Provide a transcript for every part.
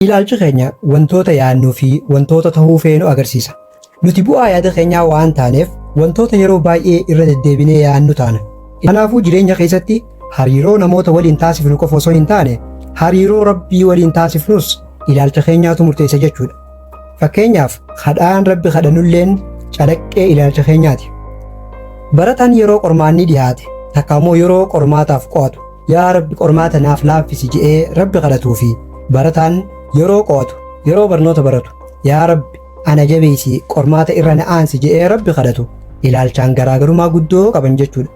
Ilaalchi keenya wantoota yaadnuu fi wantoota tahuu feenu agarsiisa. Nuti bu'aa yaada keenyaa waan taaneef wantoota yeroo baay'ee irra deddeebinee yaadnu taana. Kanaafuu jireenya keessatti hariiroo namoota waliin taasifnu qofa osoo hin taane hariiroo Rabbii waliin taasifnus ilaalcha keenyaatu murteessa jechuudha. Fakkeenyaaf kadhaan Rabbi kadhanulleen calaqqee ilaalcha keenyaati. Barataan yeroo qormaanni dhihaate takka immoo yeroo qormaataaf qo'atu Yaa Rabbi qormaata naaf laaffisi je'ee Rabbi kadhatuu fi barataan yeroo qo'atu, yeroo barnoota baratu yaa Rabbi ana jabeessi qormaata irra na aansi je'ee Rabbi kadhatu ilaalchaan garaagarumaa guddoo qaban jechuudha.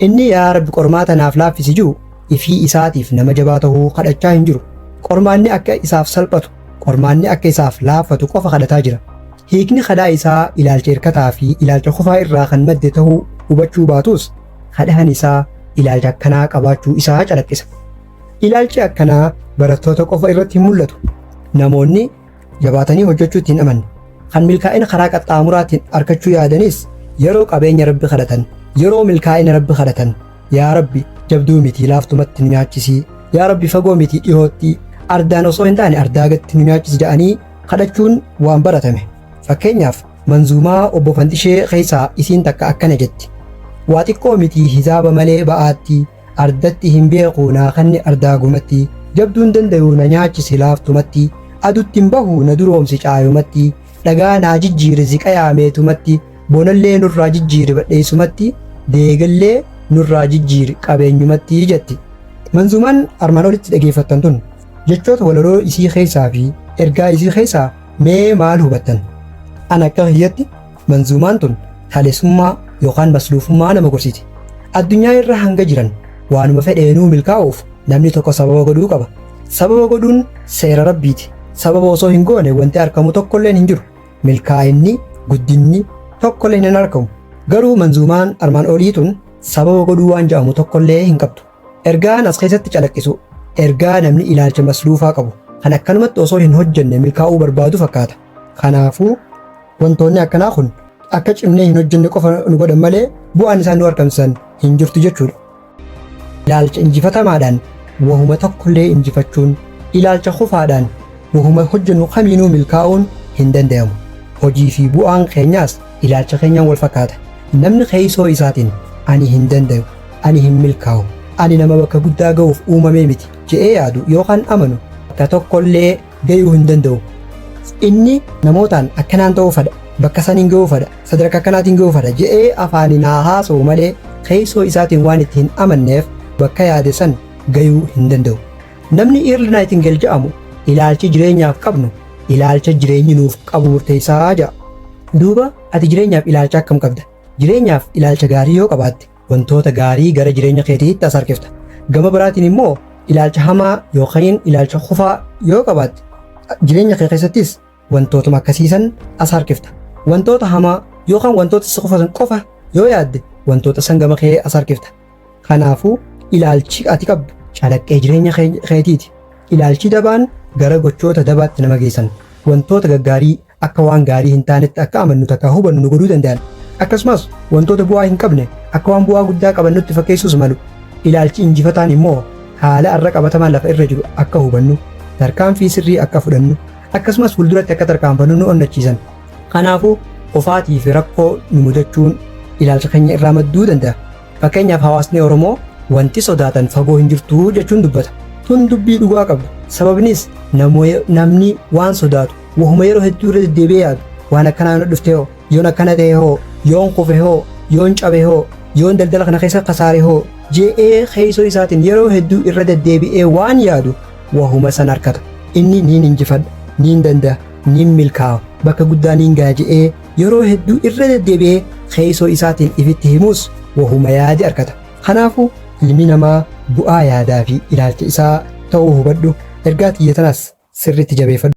Inni yaa Rabbi qormaata naaf laaffisi jiru ifii isaatiif nama jabaa ta'uu kadhachaa hin jiru. Qormaanni akka isaaf salphatu, qormaanni akka isaaf laaffatu qofa kadhataa jira. Hiikni kadhaa isaa ilaalcha hirkataa fi ilaalcha kufaa irraa kan madde ta'uu hubachuu baatus Kadhaan isaa ilaalcha akkanaa qabaachuu isaa calaqqisa. Ilaalchi akkanaa barattoota qofa irratti hin mul'atu. Namoonni jabaatanii hojjechuutti hin amanne. Kan milkaa'ina karaa qaxxaamuraatiin argachuu yaadanis yeroo qabeenya rabbi kadhatan, yeroo milkaa'ina rabbi kadhatan, yaa rabbi jabduu miti laaftumatti nu nyaachisii, yaa rabbi fagoo miti dhihootti, ardaan osoo hin taane ardaa gatti nu nyaachisi jedhanii kadhachuun waan baratame. Fakkeenyaaf Manzuumaa Obbo Fanxishee keessaa isiin takka akkana jetti. Waa xiqqoo miti hisaaba malee ba'aatti, ardatti hin beeku naa kanni ardaagumatti, jabduun dandayu na nyaachisi laaftumatti, aduttin bahu na duroomsi caayumatti, dhagaa naa jijjiiri ziqayaa meetumatti, bonallee nurraa jijjiiri badheessumatti, deegallee nurraa jijjiiri qabeenyumatti jetti. Manzuumaan armaan olitti dhageeffattan tun jechoota walaloo isii keessaa fi ergaa isii keessaa Mee maal hubattan? An akka kiyyatti manzuumaan tun talesummaa yookaan masluufummaa nama gorsiti. Addunyaa irra hanga jiran waanuma fedheenuu milkaa'uuf namni tokko sababa godhuu qaba. Sababa godhuun seera Rabbiiti. Sababa osoo hin goone wanti arkamu tokkolleen hin jiru. Milkaa'inni, guddinni tokkolleen hin arkamu. Garuu manzuumaan armaan olii tun sababa godhuu waan ja'amu tokkollee hin qabdu. Ergaan as keessatti calaqqisu ergaa namni ilaalcha masluufaa qabu kan akkanumatti osoo hin hojjenne milkaa'uu barbaadu fakkaata. Kanaafuu wantoonni akkanaa kun akka cimnee hin hojjenne qofa nu godhan malee bu'aan isaan nu argamsiisan hin jirtu jechuudha. Ilaalcha injifatamaadhaan wahuma tokkollee injifachuun ilaalcha kufaadhaan wahuma hojjennu kamiinuu milkaa'uun hin danda'amu. Hojii fi bu'aan keenyaas ilaalcha keenyaan wal fakkaata. Namni keessoo isaatiin ani hin danda'u Ani hin milkaa'u. Ani nama bakka guddaa ga'uuf uumamee miti jedhee yaadu yookaan amanu bakka tokkollee ga'uu hin danda'u. Inni namootaan akkanaan ta'uu fedha, bakka saniin ga'uu fedha, sadarkaa akkanaatiin ga'uu fedha jedhee afaaniin haa haasa'u malee keessoo isaatiin waan itti hin amanneef bakka yaade san ga'uu hin danda'u. Namni Earl Nightingale jedhamu ilaalchi jireenyaaf qabnu ilaalcha jireenyi nuuf qabu murteessaa jedha. Duuba ati jireenyaaf ilaalcha akkam qabda? Jireenyaaf ilaalcha gaarii yoo qabaatte wantoota gaarii gara jireenya keetiitti as harkifta. Gama biraatiin immoo ilaalcha hamaa yookiin ilaalcha kufaa yoo qabaatte jireenya kee keessattis wantootuma akkasiisan as harkifta. Wantoota hamaa yookaan wantoota si kufasan qofa yoo yaadde wantoota san gama kee as harkifta. Kanaafuu ilaalchi ati qabdu calaqqee jireenya kee- keetiiti. Ilaalchi dabaan gara gochoota dabaatti nama geessan wantoota gaggaarii akka waan gaarii hin taanetti akka amannu takka hubannu nu godhuu danda'an. Akkasumas wantoota bu'aa hin qabne akka waan bu'aa guddaa qaban nutti fakkeessuus malu. Ilaalchi injifataan immoo haala har'a qabatamaa lafa irra jiru akka hubannu, tarkaanfii sirrii akka fudhannu, akkasumas fuulduratti akka tarkaanfannu nu onnachiisan. Kanaafuu kufaatii fi rakkoo nu mudachuun ilaalcha keenya irraa madduu danda'a. Fakkeenyaaf hawaasni Oromoo wanti sodaatan fagoo hin jirtu jechuun dubbata. Tun dubbii dhugaa qabdu. Sababnis namni waan sodaatu Wahuma yeroo hedduu irra deddeebi'ee yaadu waan akkanaa na dhufte hoo yoon akkana ta'e hoo yoon kufe hoo yoon cabe hoo yoon daldala kana keessa kasaare hoo je'ee keessoo isaatiin yeroo hedduu irra deddeebi'ee waan yaadu wahuma san harkata inni niin injifadha niin danda'a niin milkaa'a bakka guddaa niin ga'a je'ee yeroo hedduu irra deddeebi'ee keessoo isaatiin ifitti himuus wahuma yaade harkata Kanaafuu ilmi namaa bu'aa yaadaa fi ilaalcha isaa ta'uu hubadhu, ergaa tiyya tanas sirriitti jabeeffadhu.